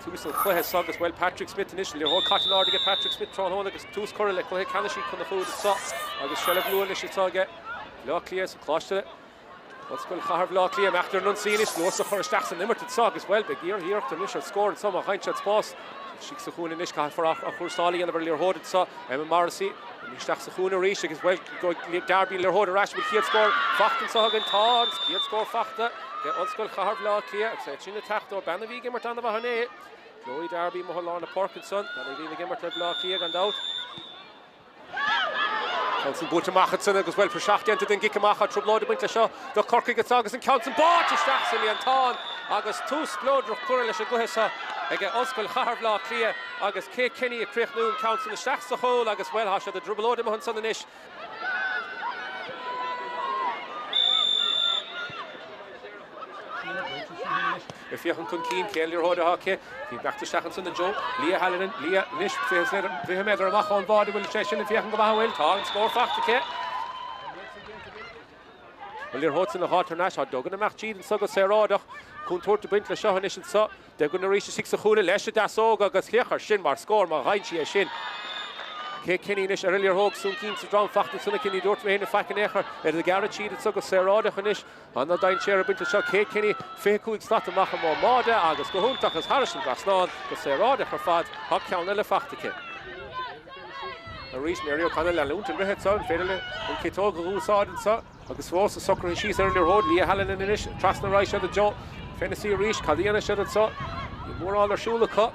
tús an chluiche so agus bhuel Patrick Smith anois liathróid caite in airde aige Patrick Smith tráthnóna agus tús curtha le cluiche ceannais Uí Chonchúir anseo agus seilbh luath anois atá aige Bhleá Cliath sa Coláiste Ollscoil Chathair Bhleá Cliath ag imeacht ar an ionsaí anois luas a chur isteach san imirt anseo agus bhuel beidh iarrtha iarracht anois ar scór anseo má fhaigheann siad spás istigh sa chúinne anois caithfear athchúrsáil a dhéanamh ar liathróid anseo Emma Morrissey isteach sa chúinne arís agus bhuel, go Darby an liathróid ar ais an bhfuil an chéad scór fachta anseo againn. Tá an chéad scór fachta aige Ollscoil Chathair Bhaile Átha Cliath agus é sin ag teacht ó bean a bhí ag imirt ana mhaith inné, Chloe Darby, amuigh i lár na páirce ansan, bean a bhíonn ag imirt le Baile Átha Cliath gan dabht. An ceann san buailte amach ansan agus bhuel, praiseach déanta den gcic amach. Tá trioblóid ag baint leis seo do Chorcaigh ansan agus an ceann san báite isteach sa líontán agus tús spleodrach curtha leis an gcluiche seo ag Ollscoil Chathair Bhaile Átha Cliath. agus Kate Kenny ag críochnú an ceann san isteach sa chúl agus, bhuel, thá siad i dtrioblóid amuigh ansan anois. Ag féachaint chun cinn, cén liathróid athá aici? Bhí beaichte isteach ansan i dtreo Leah Hallinan, Leah, anois, fiche méadar amach ón mbáide bhfuil sé sin, ag féachaint go maith a bhfuil? Tá an scór faighte aici. An liathróid san athá tar n-ais, thá Duggan ag imeacht tríd anso go saoráideach. Contúirt a' baint le seo anois anso. Duggan arís istigh sa chúinne leis an deasóg agus féach air sin mar scór má dheintí é sin. Kate Kenny anois ar an liathróid, sonc insa drom fachta ansan aici ní dúirt éinne faic in aon chor, iad ag gearradh tríd anso go saoráideach anois, ana dainséar ag baint leis seo, Kate Kenny 25 slat amach ón mbáide agus go hiontach is thairis an dtrasnán go saoráideach ar fad, tá ceann eile faighte aici. Arís Mary O'Connell ag leanúint uirthi anseo, an féidir léi an ciotóg a dh'úsáid anseo? Agus fós ag socrú síos ar an liathróid, Leah Hallinan anois, trasna ar aghaidh siad i dtreo Fennessy arís, cad a dhéanfaidh siad anseo? Níl mórán ar siúl acu.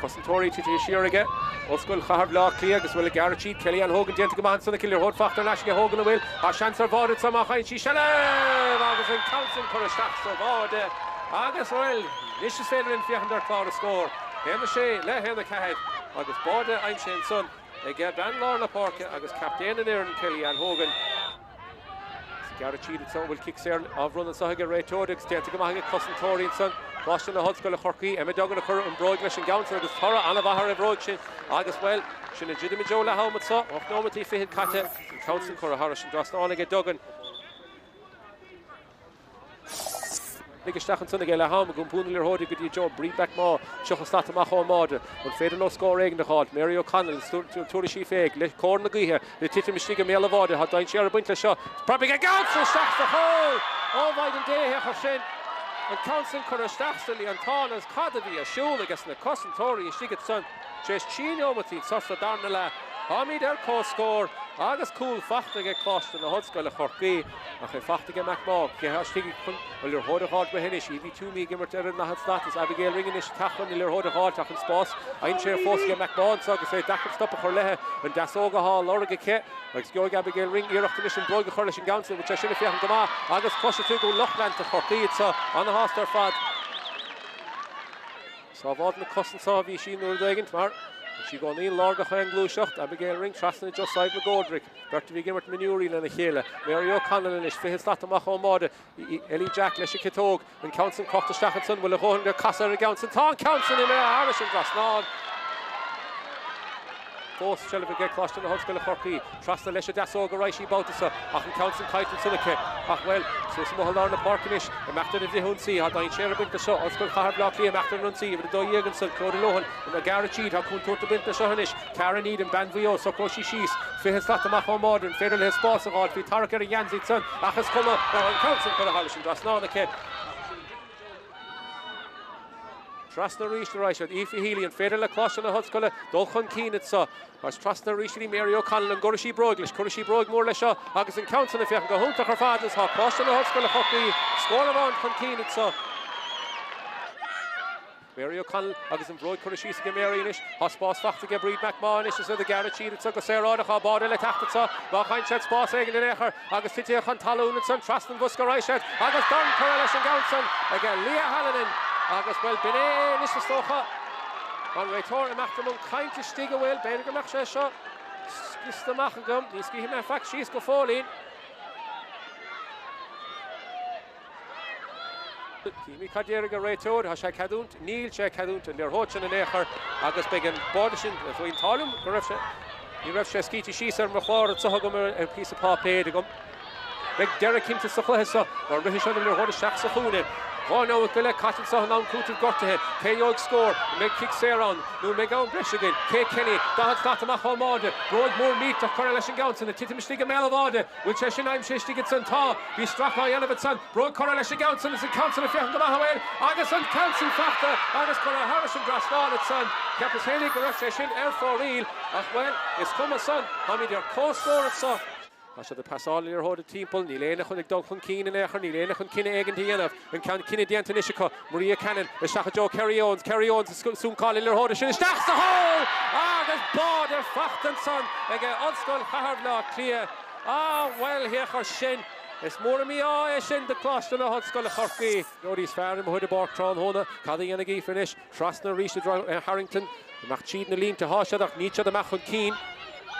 Cosantóirí titithe siar aige, Ollscoil Chathair Bhaile Átha Cliath agus bhuel ag gearradh tríd, Kellyanne Hogan déanta go maith ansan aici an liathróid fachta ar ais aige Hogan bhuel, tá seans ar bháide anseo má fhaigheann sí seilbh! Agus an ceann sin curtha isteach sa bháide agus bhuel anois is féidir linn féachaint ar chlár an scór, 1 6 le 1 4 agus báide aimsithe ansan. ag bean lár na páirce agus captaen an fhoireann, Kelly Ann Hogan. Ag gearradh tríd anseo an bhfuil cic saor á bhronnadh anseo ag an réiteoir agus déanta go maith ag na cosantóirí anseo. Coláiste na hOllscoile Chorcaí, Emma Duggan a chuir an bróig leis an gceann san agus toradh an-mhaith ar an bhróig sin agus, bhuel, sinn ag druidim i dtreo leath ama anseo. Ocht nóimeataí fichead caite, an ceann san curtha thairis an dtrasnán aige Duggan. Lig isteach ansan aige leath am ag iompar na liathróide go dtí i dtreo Bríd McMaugh tríocha slat amach ón mbáide. An féidir leo scór éigin a dh'fháilt? Mary O'Connell tabharfaidh sí féig le cóir na gaoithe le titim istigh i mbéal an bháide. Tá dainséar ag baint leis seo. Preab an ceann san isteach sa chúl! Ó mhaighdean Dé a thiocfadh sin! An ceann sin curtha isteach sa líontán agus cad a bhí ar siúl ages na cosantóirí istigh ansan tar éis trí neomataí anso sa darna leath. Táimid ar comhscór agus cúl faighte aige Coláiste na hOllscoile Chorcaí. Ach é fachta aige McMaugh, cé thá istigh chun an liathróid a ghabháilt uaithi anois, Evie Twomey ag imirt ar an dathad slat is Abigail Ring anois ag teacht chun an liathróid a ghabháilt ach an spás aimsithe fós aige McMaugh anso agus é deacair stop a chur leithe, an deasóg athá a lorg aici agus gheobhaidh Abigail Ring iarracht anois an bhróig a chur leis an gceann san, tá sé sin ag féachaint go maith agus cloisfidh tú go bhfuil lucht leanta Chorcaí anso ana-shásta ar fad. Sábháilt na cosanta a bhí sí uair éigint mar bhí sí i gcónaí i lár gach aon ghluaiseacht, Abigail Ring trasna i dtreo Sadhbh McGoldrick, beirt a bhí ag imirt mionúirí lena chéile, Mary O'Connell anois fiche slat amach ón mbáide, Ellie Jack leis an ciotóg, an ceann san crochta isteach ansan, bhfuil a dhóthain do chasadh ar an gceann san, tá an ceann san imithe thairis an dtrasnán! fós seilbh aige Coláiste na hOllscoile Chorcaí. Trasna leis an deasóg a raghaidh sí an babhta seo ach an ceann san caillte ansan aici. Ach, bhuel, suas amuigh i lár na páirce anois, imeacht ar an bhfrithionsaí tá dainséar ag baint leis seo, Ollscoil Chathair Bhleá Cliath imeacht ar an ionsaí, uimhir 12 ansan, Clodagh Lohan, ag gearradh tríd, tá contúirt ag baint leis seo anois, Ciara Needham, bean Mhaigh Eo, socróidh sí síos, fiche slat amach ón mbáide, an féidir leithe spás a dh'fháil bhí tarrac ar an ngeansaí san, ach is cuma, tá an ceann san curtha thairis an dtrasnán aici. Trasna aríst a raghaidh siad. Aoife Healy, an féidir le Coláiste na hOllscoile dul chun cinn anseo? Agus trasna arís go dtí Mary O'Connell. An gcuirfidh sí bróig leis? Cuirfidh sí bróig mhór leis seo agus an ceann san ag féachaint go hiontach ar fad. Agus tá Coláiste na hOllscoile Chorcaí scór amháin chun cinn anseo. Mary O'Connell agus an bhróig curtha síos aige Mary anois, tá spás fachta aige Bríd McMaugh anois is iad ag gearradh tríd anseo go saoráideach tá báide le teacht anseo má fhaigheann siad spás éigin in aon chor agus titithe chun talún ansan trasna an bhosca a raghaidh siad agus dorn curtha leis an gceann san ag Leah Hallinan agus bhuel b'in é anois is dócha an réiteoir imeacht i mbun caint istigh ah bhuel b'fhéidir go mbeadh sé seo scriosta amach agam ní scríobhfaidh mé faic síos go fóillín Címid cad déarfaidh an réiteoir, tá sé ag ceadúint, níl sé ag ceadúint na liathróide sin in aon chor agus beidh an báide sin faoin talamh go raibh sé, ní raibh sé scríte síos ar mo chlár anseo agam ar an píosa páipéir agam. Beidh deireadh cinnte sa chluiche seo má rithfidh siad an liathróid isteach sa chúinne. Dhá nóiméad go leith caite anseo in am cúitimh gortuithe. Cé gheobhaidh scór? An mbeidh cic saor ann nó an mbeidh am breise againn? Kate Kenny, 40 slat amach ón mbáide, bróig mhór millteach curtha leis an gceann san, ag titim istigh i mbéal an bháide. Bhfuil sé sin aimsithe istigh ansan? Tá. Bhí stracadh á dhéanamh ansan. Bróig curtha leis an gceann san is an ceann san ag féachaint go maith abhaile agus an ceann san fachta agus curtha thairis an dtrasnán ansan. Cheapas fhéinig go raibh sé sin ar fóraoil ach, bhuel, is cuma san, táimid ar comhscór anso. Tá siad ag pasáil na liathróide timpeall. Níl éinne chun ag dul chun cinn in aon chor, níl éinne chun cinneadh éigin a dhéanamh. An ceann cinneadh déanta anois acu. Maria Cannon isteach i dtreo Kerry Owens, Kerry Owens ag súncáil na liathróide sin isteach sa chúl agus báide fachta ansan ag Ollscoil Chathair Bhleá Cliath. Ah bhuel thiocfadh sin, is mór an mí-ádh é sin do Coláiste na hOllscoile Chorcaí. Dob iad is fearr amuigh ar an bpáirc tráthnóna, cad a dhéanfaidh Aoife anois? Trasna arís i dtreo Harrington, Amach tríd na línte Tá siad ach níl siad amach chun cinn.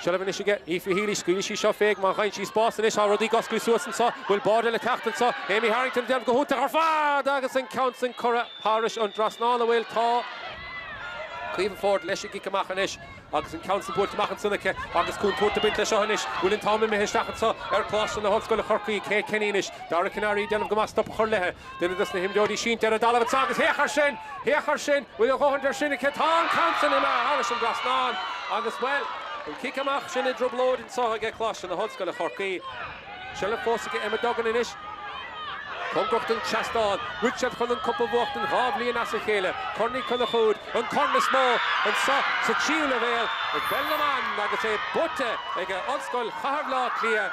Seilbh anois aige Aoife Healy, scaoilfidh sí seo féna má gheibheann sí spás anois Tá rudaí ag oscailt suas anseo bhfuil báidiú le teacht anseo Amy Harrington ag déanamh go hiontach ar fad agus an ceann sin curtha thairis an dtrasnán an bhfuil Tá Caoimhe Forde leis an gcic amach anois agus an ceann sin buailte amach ansin aici agus contúirt ag baint leis seo anois bhfuil an t-am imithe isteach anseo ar Choláiste na hOllscoile Chorcaí Kate Kenny anois Dara Kiniry ag déanamh go maith stop a chur leithe Duine dos na himreoirí sínte ar an dtalamh anseo agus féach ar sin! Féach ar sin! Bhfuil a dhóthaint ar sin aici? Tá an ceann sin imithe thairis an dtrasnán agus, bhuel, an cic amach sin i dtrioblóid anseo aige Coláiste na hOllscoile Chorcaí. Seilbh fós aige Emma Duggan anois. Cóngarach don seastán. Rith siad chun an cup a bhuachtaint dhá bhliain as a chéile. Corn Uí Chonchúir, an corn is mó anseo sa tríú leibhéal i bpeil na mban agus é buaite aige Ollscoil Chathair Bhleá Cliath.